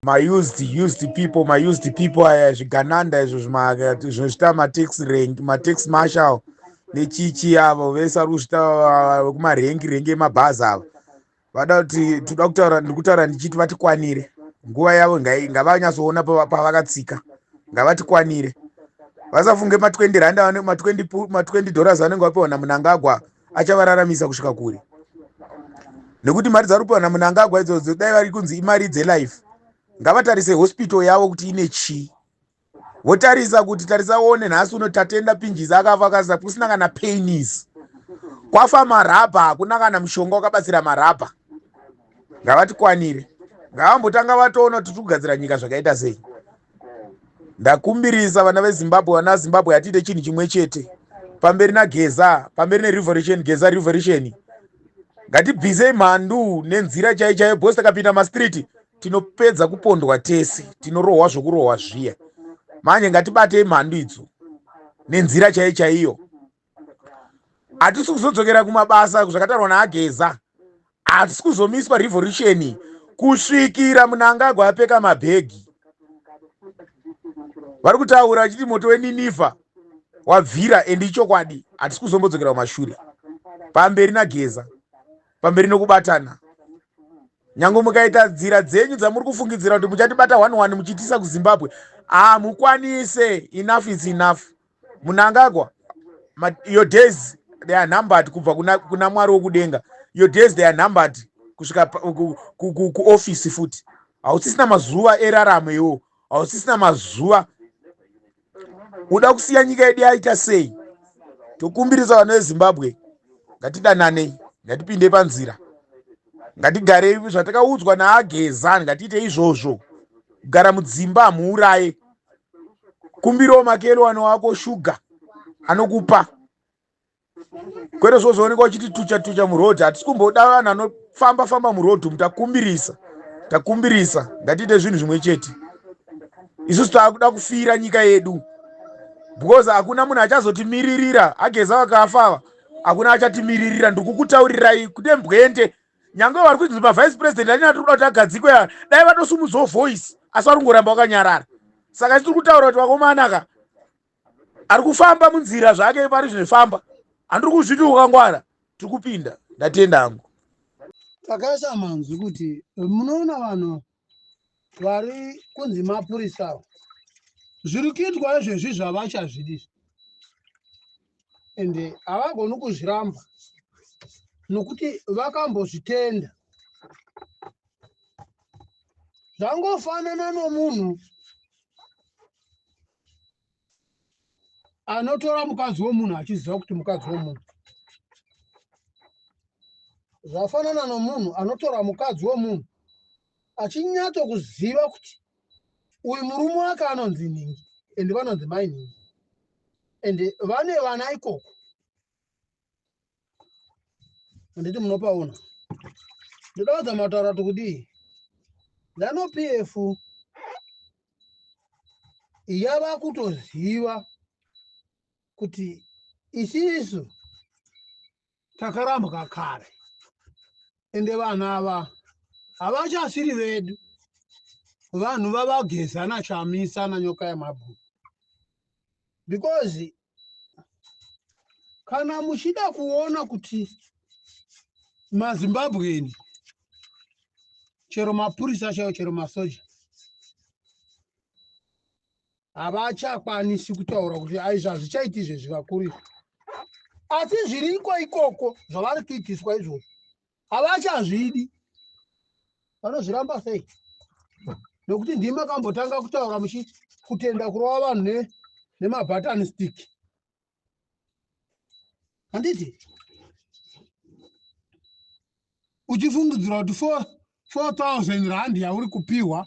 maused used people maused people aya zvigananda izvo zvinozvita matax rank matax marshal nechichi avo vese vari kuzvita vekumarengi rengi emabhazi avo vada kuti toda kutaura ndiri kutaura ndichiti vatikwanire nguva yavo ngavanyatsoona pavakatsika ngavatikwanire vasafunge ma20 rand ma20 dollars vanenge vapiwa namunangagwa achavararamisa kusvika kure nekuti mari dzari kupiwa namunangagwa idzodzo dai vari kunzi imari dzelife ngavatarise hospital yavo kuti ine chii votarisa kuti tarisa one nhasi uno tatenda pinjizi akafa kasa kusina kana painis kwafa marabha hakuna kana mushonga wakabatsira marabha ngavatikwanire ngavambotanga vatoona kuti tikugadzira nyika zvakaita sei ndakumbirisa vana vezimbabwe vana vezimbabwe hatiite chinhu chimwe chete pamberi nageza pamberi nerevolution geza revolution ngatibvisei mhandu nenzira chai chaiyo bcause takapinda mastriti tinopedza kupondwa tese tinorohwa zvokurohwa zviya manje ngatibatei mhandu idzo nenzira chai chaiyo hatisi kuzodzokera kumabasa zvakataurwa naageza hatisi kuzomiswa revolution kusvikira munangagwa apfeka mabhegi vari kutaura vachiti moto weninifa wabvira endi ichokwadi hatisi kuzombodzokera kumashure pamberi nageza pamberi nokubatana nyange mukaita nzira dzenyu dzamuri kufungidzira kuti muchatibata one one muchitiisa kuzimbabwe hamukwanise enough is enough munangagwa your days they are numbered kubva kuna, kuna mwari wokudenga your days they are numbered kusvika kuofisi futi hausisina mazuva eraramo iwo hausisina mazuva uda kusiya nyika yedu yaita sei tokumbirisa vana vezimbabwe ngatidananei ngatipinde panzira ngatigarei zvatakaudzwa naagezani ngatiite izvozvo kugara mudzimba hamuuraye kumbirawo makelwani wako shuga anokupa kwete zvozooneka uchiti tucha tucha muroad hatisi kumboda vanhu anofamba famba muroad umu takumbirisa takumbirisa ngatiite zvinhu zvimwe chete isusu taakuda kufira nyika yedu because hakuna munhu achazotimiririra ageza vakafa ava hakuna achatimiririra ndikukutaurirai kune mbwende nyange vari kuti mavice president anini atiri kuda kuti agadzikwe aa dai vatosumudzawo voice asi vari kungoramba vakanyarara saka tiri kutaura kuti vakomanaka ari kufamba munzira zvake pari zvinofamba handiri kuzviti ukangwara tiri kupinda ndatenda hangu takaisa manzwi kuti munoona vanhu vari kunzi mapurisa avo zviri kuitwa izvezvi zvavachazvidi ende havagoni kuzviramba nokuti vakambozvitenda zvangofanana nomunhu anotora mukadzi womunhu achiziva kuti mukadzi womunhu zvafanana nomunhu anotora mukadzi womunhu achinyatso kuziva kuti uyu murume wake anonzi nhingi and vanonzi mai nhingi and vane vana ikoko handiti munopaona ndoda wadza mataura kuti kudii zanu pf yava kutoziva kuti isisu takarambwa kare ende vanhu ava havachasiri vedu vanhu vavageza nachamisa nanyoka yemabhuku because kana muchida kuona kuti mazimbabweni chero mapurisa chaiwo chero masoja havachakwanisi kutaura kuti aizvo hazvichaiti izvezvi vakuru izvi asi zviriko ikoko zvavari kuitiswa izvozvo havachazvidi vanozviramba sei nokuti ndima kambotanga kutaura muchi kutenda kurova vanhu ne nemabutton stick handiti uchifungidzira kuti 4000 rand yauri kupiwa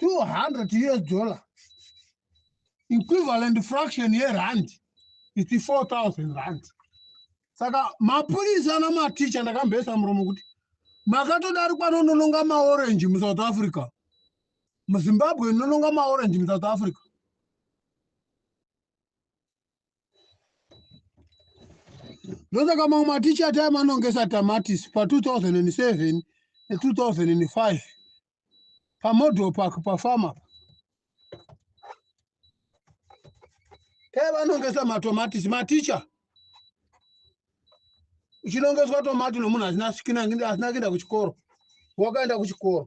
200 us dollar equivalent fraction yerand iti 4000 rand saka mapurisa namaticha ndakamboisa muromo kuti makatodarikwa nonononga maorange musouth africa muzimbabwe nononga maorange musouth africa ndosaka mamwe maticha ati amanongesa tamatisi pa 2007 ne 2005 pamodel park pafama taivanongesa matomatisi maticha uchinongeswa tomati nomunhu asina kuenda kuchikoro wakaenda kuchikoro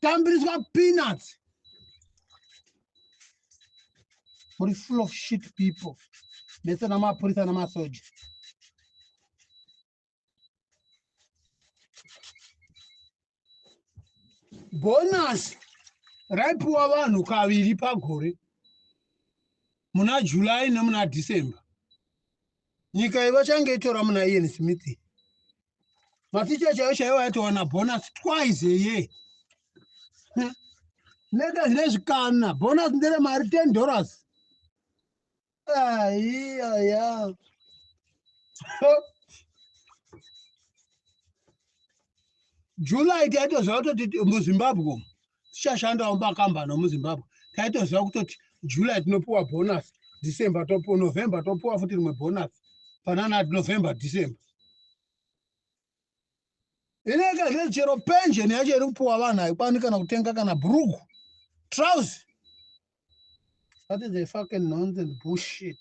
tambiriswa peanuts muri full of shit people mese namapurisa namasoja bonasi raipiwa vanhu kaviri pagore muna july nemuna december nyika iyi vachange itora muna ian smith maticha chaiyo chaiyo aitowana bonus twice eye nega zvine zvikana bonus ndere mari ten dollars aiyaya july taitoziva kutoti muzimbabwe tichashandawo mumakambani omuzimbabwe taitoziva kutoti july tinopiwa bonus december topiwa november topiwa futi rimwe bonus pananati november december ineka zve chero pension yacho iri kupiwa vanhu haikwanwi kana kutenga kana brugu trouse That is a fucking nonsense bullshit.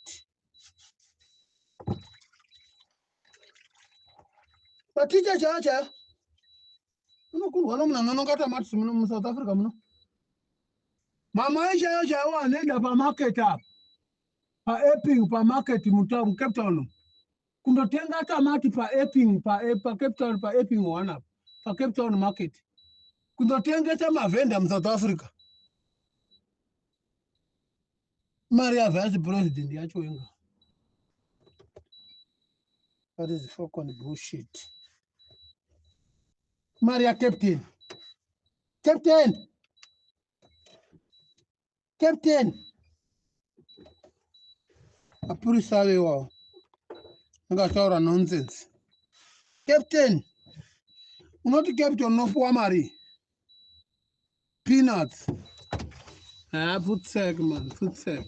Maticha chaya chaya unokurwa nomunhu anongata matisi muno musouth africa muno mamai chaiyo chaiwo anoenda pamarket apa paeping pamarket mucape town kundotenga tamati paeping pacape town paeping one apa pacape town market kundotengesa mavhenda musouth africa mari yavice president yacho inga that is fucking bullshit mari yacaptain captain captain mapurisa avo iwawo anga achitaura nonsense captain unoti captain unopiwa mari peanuts haa ah, futsek man futsek